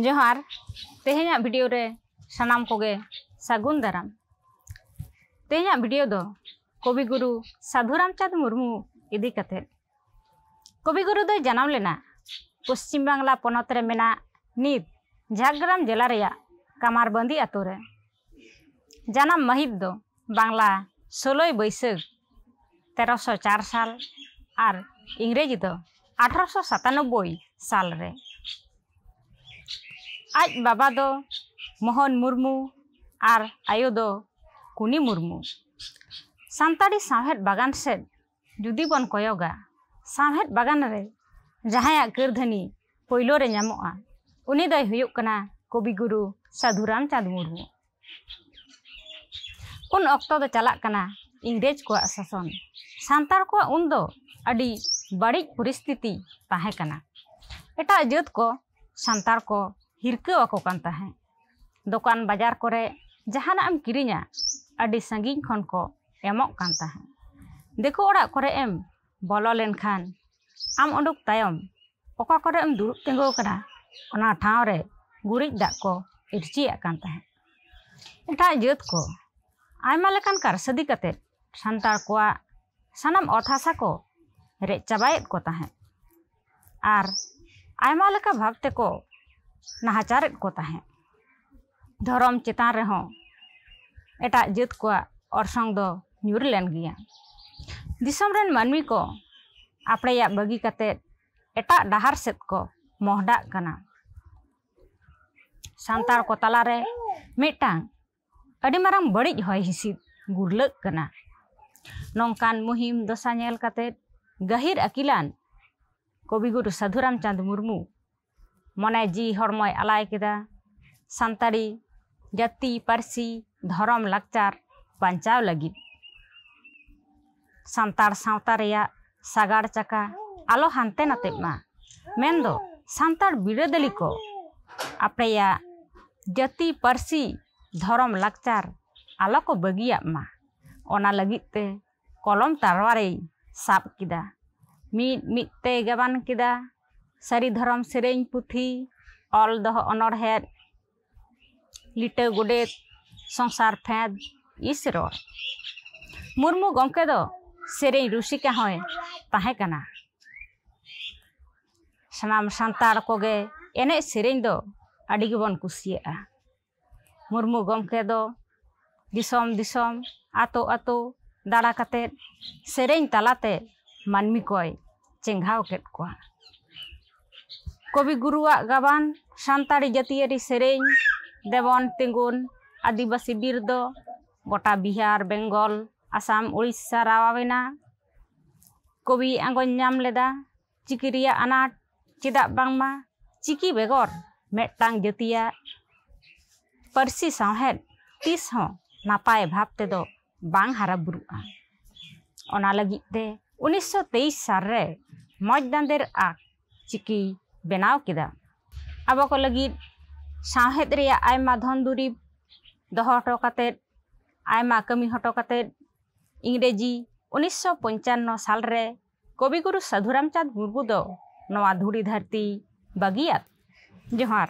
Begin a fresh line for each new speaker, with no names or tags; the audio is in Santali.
ᱡᱚᱦᱟᱨ ᱛᱮᱦᱮᱧᱟᱜ ᱵᱷᱤᱰᱤᱭᱳ ᱨᱮ ᱥᱟᱱᱟᱢ ᱠᱚᱜᱮ ᱥᱟᱹᱜᱩᱱ ᱫᱟᱨᱟᱢ ᱛᱮᱦᱮᱧᱟᱜ ᱵᱷᱤᱰᱤᱭᱳ ᱫᱚ ᱠᱚᱵᱤ ᱜᱩᱨᱩ ᱥᱟᱹᱫᱷᱩ ᱨᱟᱢᱪᱟᱸᱫᱽ ᱢᱩᱨᱢᱩ ᱤᱫᱤ ᱠᱟᱛᱮ ᱠᱚᱵᱤ ᱜᱩᱨᱩ ᱫᱚᱭ ᱡᱟᱱᱟᱢ ᱞᱮᱱᱟ ᱯᱚᱥᱪᱤᱢ ᱵᱟᱝᱞᱟ ᱯᱚᱱᱚᱛ ᱨᱮ ᱢᱮᱱᱟᱜ ᱱᱤᱛ ᱡᱷᱟᱲᱜᱨᱟᱢ ᱡᱮᱞᱟ ᱨᱮᱭᱟᱜ ᱠᱟᱢᱟᱨᱵᱟᱸᱫᱤ ᱟᱛᱳ ᱨᱮ ᱡᱟᱱᱟᱢ ᱢᱟᱹᱦᱤᱛ ᱫᱚ ᱵᱟᱝᱞᱟ ᱥᱳᱞᱳᱭ ᱵᱟᱹᱭᱥᱟᱹᱠᱷ ᱛᱮᱨᱚᱥᱚ ᱪᱟᱨ ᱥᱟᱞ ᱟᱨ ᱤᱝᱨᱮᱡᱤ ᱫᱚ ᱟᱴᱷᱨᱚᱥᱚ ᱥᱟᱛᱟᱱᱚᱵᱵᱳᱭ ᱥᱟᱞ ᱨᱮ ᱟᱡ ᱵᱟᱵᱟ ᱫᱚ ᱢᱳᱦᱚᱱ ᱢᱩᱨᱢᱩ ᱟᱨ ᱟᱭᱳ ᱫᱚ ᱠᱩᱱᱤ ᱢᱩᱨᱢᱩ ᱥᱟᱱᱛᱟᱲᱤ ᱥᱟᱶᱦᱮᱫ ᱵᱟᱜᱟᱱ ᱥᱮᱫ ᱡᱩᱫᱤ ᱵᱚᱱ ᱠᱚᱭᱚᱜᱟ ᱥᱟᱶᱦᱮᱫ ᱵᱟᱜᱟᱱ ᱨᱮ ᱡᱟᱦᱟᱸᱭᱟᱜ ᱠᱟᱹᱨᱫᱷᱟᱹᱱᱤ ᱯᱳᱭᱞᱳ ᱨᱮ ᱧᱟᱢᱚᱜᱼᱟ ᱩᱱᱤ ᱫᱚᱭ ᱦᱩᱭᱩᱜ ᱠᱟᱱᱟ ᱠᱚᱵᱤ ᱜᱩᱨᱩ ᱥᱟᱹᱫᱷᱩ ᱨᱟᱢᱪᱟᱸᱫᱽ ᱢᱩᱨᱢᱩ ᱩᱱ ᱚᱠᱛᱚ ᱫᱚ ᱪᱟᱞᱟᱜ ᱠᱟᱱᱟ ᱤᱝᱨᱮᱡᱽ ᱠᱚᱣᱟᱜ ᱥᱟᱥᱚᱱ ᱥᱟᱱᱛᱟᱲ ᱠᱚᱣᱟᱜ ᱩᱱ ᱫᱚ ᱟᱹᱰᱤ ᱵᱟᱹᱲᱤᱡ ᱯᱚᱨᱤᱥᱛᱷᱤᱛᱤ ᱛᱟᱦᱮᱸ ᱠᱟᱱᱟ ᱮᱴᱟᱜ ᱡᱟᱹᱛ ᱠᱚ ᱥᱟᱱᱛᱟᱲ ᱠᱚ ᱦᱤᱨᱠᱟᱹ ᱟᱠᱚ ᱠᱟᱱ ᱛᱟᱦᱮᱸᱫ ᱫᱚᱠᱟᱱ ᱵᱟᱡᱟᱨ ᱠᱚᱨᱮ ᱡᱟᱦᱟᱱᱟᱜ ᱮᱢ ᱠᱤᱨᱤᱧᱟ ᱟᱹᱰᱤ ᱥᱟᱺᱜᱤᱧ ᱠᱷᱚᱱ ᱠᱚ ᱮᱢᱚᱜ ᱠᱟᱱ ᱛᱟᱦᱮᱸᱫ ᱫᱤᱠᱩ ᱚᱲᱟᱜ ᱠᱚᱨᱮ ᱮᱢ ᱵᱚᱞᱚ ᱞᱮᱱᱠᱷᱟᱱ ᱟᱢ ᱩᱰᱩᱠ ᱛᱟᱭᱚᱢ ᱚᱠᱟ ᱠᱚᱨᱮ ᱮᱢ ᱫᱩᱲᱩᱵ ᱛᱤᱸᱜᱩ ᱟᱠᱟᱱᱟ ᱚᱱᱟ ᱴᱷᱟᱶ ᱨᱮ ᱜᱩᱨᱤᱡ ᱫᱟᱜ ᱠᱚ ᱤᱨᱪᱤᱭᱟᱜ ᱠᱟᱱ ᱛᱟᱦᱮᱸᱫ ᱮᱴᱟᱜ ᱡᱟᱹᱛ ᱠᱚ ᱟᱭᱢᱟ ᱞᱮᱠᱟᱱ ᱠᱟᱨᱥᱟᱹᱫᱤ ᱠᱟᱛᱮ ᱥᱟᱱᱛᱟᱲ ᱠᱚᱣᱟᱜ ᱥᱟᱱᱟᱢ ᱚᱛ ᱦᱟᱥᱟ ᱠᱚ ᱨᱮᱡ ᱪᱟᱵᱟᱭᱮᱫ ᱠᱚ ᱛᱟᱦᱮᱸᱫ ᱟᱨ ᱟᱭᱢᱟ ᱞᱮᱠᱟ ᱵᱷᱟᱵᱽ ᱛᱮᱠᱚ ᱱᱟᱦᱟᱪᱟᱨᱮᱫ ᱠᱚ ᱛᱟᱦᱮᱸᱫ ᱫᱷᱚᱨᱚᱢ ᱪᱮᱛᱟᱱ ᱨᱮᱦᱚᱸ ᱮᱴᱟᱜ ᱡᱟᱹᱛ ᱠᱚᱣᱟᱜ ᱚᱨᱥᱚᱝ ᱫᱚ ᱧᱩᱨ ᱞᱮᱱ ᱜᱮᱭᱟ ᱫᱤᱥᱚᱢ ᱨᱮᱱ ᱢᱟᱹᱱᱢᱤ ᱠᱚ ᱟᱯᱲᱮᱭᱟᱜ ᱵᱟᱹᱜᱤ ᱠᱟᱛᱮᱫ ᱮᱴᱟᱜ ᱰᱟᱦᱟᱨ ᱥᱮᱫ ᱠᱚ ᱢᱚᱦᱰᱟᱜ ᱠᱟᱱᱟ ᱥᱟᱱᱛᱟᱲ ᱠᱚ ᱛᱟᱞᱟᱨᱮ ᱢᱤᱫᱴᱟᱝ ᱟᱹᱰᱤ ᱢᱟᱨᱟᱝ ᱵᱟᱹᱲᱤᱡ ᱦᱚᱭ ᱦᱤᱸᱥᱤᱫ ᱜᱩᱨᱞᱟᱹᱜ ᱠᱟᱱᱟ ᱱᱚᱝᱠᱟᱱ ᱢᱩᱦᱤᱢ ᱫᱚᱥᱟ ᱧᱮᱞ ᱠᱟᱛᱮ ᱜᱟᱹᱦᱤᱨ ᱟᱹᱠᱤᱞᱟᱱ ᱠᱚᱵᱤᱜᱩᱨᱩ ᱥᱟᱹᱫᱷᱩ ᱨᱟᱢᱪᱟᱸᱫᱽ ᱢᱩᱨᱢᱩ ᱢᱚᱱᱮ ᱡᱤᱣᱤ ᱦᱚᱲᱢᱚᱭ ᱟᱞᱟᱭ ᱠᱮᱫᱟ ᱥᱟᱱᱛᱟᱲᱤ ᱡᱟᱹᱛᱤ ᱯᱟᱹᱨᱥᱤ ᱫᱷᱚᱨᱚᱢ ᱞᱟᱠᱪᱟᱨ ᱵᱟᱧᱪᱟᱣ ᱞᱟᱹᱜᱤᱫ ᱥᱟᱱᱛᱟᱲ ᱥᱟᱶᱛᱟ ᱨᱮᱭᱟᱜ ᱥᱟᱜᱟᱲ ᱪᱟᱠᱟ ᱟᱞᱚ ᱦᱟᱱᱛᱮ ᱱᱟᱛᱮᱜ ᱢᱟ ᱢᱮᱱ ᱫᱚ ᱥᱟᱱᱛᱟᱲ ᱵᱤᱨᱟᱹᱫᱟᱹᱞᱤ ᱠᱚ ᱟᱯᱮᱭᱟᱜ ᱡᱟᱹᱛᱤ ᱯᱟᱹᱨᱥᱤ ᱫᱷᱚᱨᱚᱢ ᱞᱟᱠᱪᱟᱨ ᱟᱞᱚ ᱠᱚ ᱵᱟᱹᱜᱤᱭᱟᱜ ᱢᱟ ᱚᱱᱟ ᱞᱟᱹᱜᱤᱫ ᱛᱮ ᱠᱚᱞᱚᱢ ᱛᱟᱨᱣᱟᱨᱮᱭ ᱥᱟᱵ ᱠᱮᱫᱟ ᱢᱤᱫ ᱢᱤᱫ ᱛᱮᱭ ᱜᱟᱵᱟᱱ ᱠᱮᱫᱟ ᱥᱟᱹᱨᱤ ᱫᱷᱚᱨᱚᱢ ᱥᱮᱨᱮᱧ ᱯᱩᱛᱷᱤ ᱚᱞ ᱫᱚᱦᱚ ᱚᱱᱚᱬᱦᱮᱸᱫ ᱞᱤᱴᱟᱹ ᱜᱚᱰᱮᱛ ᱥᱚᱝᱥᱟᱨ ᱯᱷᱮᱸᱫᱽ ᱤᱥ ᱨᱚᱲ ᱢᱩᱨᱢᱩ ᱜᱚᱢᱠᱮ ᱫᱚ ᱥᱮᱨᱮᱧ ᱨᱩᱥᱤᱠᱟ ᱦᱚᱸᱭ ᱛᱟᱦᱮᱸ ᱠᱟᱱᱟ ᱥᱟᱱᱟᱢ ᱥᱟᱱᱛᱟᱲ ᱠᱚᱜᱮ ᱮᱱᱮᱡ ᱥᱮᱨᱮᱧ ᱫᱚ ᱟᱹᱰᱤ ᱜᱮᱵᱚᱱ ᱠᱩᱥᱤᱭᱟᱜᱼᱟ ᱢᱩᱨᱢᱩ ᱜᱚᱢᱠᱮ ᱫᱚ ᱫᱤᱥᱚᱢ ᱫᱤᱥᱚᱢ ᱟᱛᱳ ᱟᱛᱳ ᱫᱟᱬᱟ ᱠᱟᱛᱮ ᱥᱮᱨᱮᱧ ᱛᱟᱞᱟᱛᱮ ᱢᱟᱹᱱᱢᱤ ᱠᱚᱭ ᱪᱮᱸᱜᱷᱟᱣ ᱠᱮᱫ ᱠᱚᱣᱟ ᱠᱚᱵᱤ ᱜᱩᱨᱩᱣᱟᱜ ᱜᱟᱵᱟᱱ ᱥᱟᱱᱛᱟᱲᱤ ᱡᱟᱹᱛᱤᱭᱟᱹᱨᱤ ᱥᱮᱨᱮᱧ ᱫᱮᱵᱚᱱ ᱛᱤᱸᱜᱩᱱ ᱟᱹᱫᱤᱵᱟᱹᱥᱤ ᱵᱤᱨ ᱫᱚ ᱜᱚᱴᱟ ᱵᱤᱦᱟᱨ ᱵᱮᱝᱜᱚᱞ ᱟᱥᱟᱢ ᱳᱰᱤᱥᱟ ᱨᱟᱣᱟᱣᱮᱱᱟ ᱠᱚᱵᱤᱭ ᱟᱸᱜᱚᱪ ᱧᱟᱢ ᱞᱮᱫᱟ ᱪᱤᱠᱤ ᱨᱮᱭᱟᱜ ᱟᱱᱟᱴ ᱪᱮᱫᱟᱜ ᱵᱟᱝᱢᱟ ᱪᱤᱠᱤ ᱵᱮᱜᱚᱨ ᱢᱤᱫᱴᱟᱝ ᱡᱟᱹᱛᱤᱭᱟᱜ ᱯᱟᱹᱨᱥᱤ ᱥᱟᱶᱦᱮᱫ ᱛᱤᱥ ᱦᱚᱸ ᱱᱟᱯᱟᱭ ᱵᱷᱟᱵᱽ ᱛᱮᱫᱚ ᱵᱟᱝ ᱦᱟᱨᱟᱼᱵᱩᱨᱩᱜᱼᱟ ᱚᱱᱟ ᱞᱟᱹᱜᱤᱫ ᱛᱮ ᱩᱱᱤᱥᱥᱚ ᱛᱮᱭᱤᱥ ᱥᱟᱞ ᱨᱮ ᱢᱚᱡᱽ ᱫᱟᱸᱫᱮᱨ ᱟᱜ ᱪᱤᱠᱤ ᱵᱮᱱᱟᱣ ᱠᱮᱫᱟ ᱟᱵᱚ ᱠᱚ ᱞᱟᱹᱜᱤᱫ ᱥᱟᱶᱦᱮᱫ ᱨᱮᱭᱟᱜ ᱟᱭᱢᱟ ᱫᱷᱚᱱ ᱫᱩᱨᱤᱵᱽ ᱫᱚᱦᱚ ᱦᱚᱴᱚ ᱠᱟᱛᱮᱫ ᱟᱭᱢᱟ ᱠᱟᱹᱢᱤ ᱦᱚᱴᱚ ᱠᱟᱛᱮᱫ ᱤᱝᱨᱮᱡᱤ ᱩᱱᱤᱥᱥᱚ ᱯᱚᱧᱪᱟᱱᱱᱚ ᱥᱟᱞ ᱨᱮ ᱠᱚᱵᱤᱜᱩᱨᱩ ᱥᱟᱹᱫᱷᱩ ᱨᱟᱢᱪᱟᱸᱫᱽ ᱢᱩᱨᱢᱩ ᱫᱚ ᱱᱚᱣᱟ ᱫᱷᱩᱲᱤ ᱫᱷᱟᱹᱨᱛᱤ ᱵᱟᱹᱜᱤᱭᱟᱫ ᱡᱚᱦᱟᱨ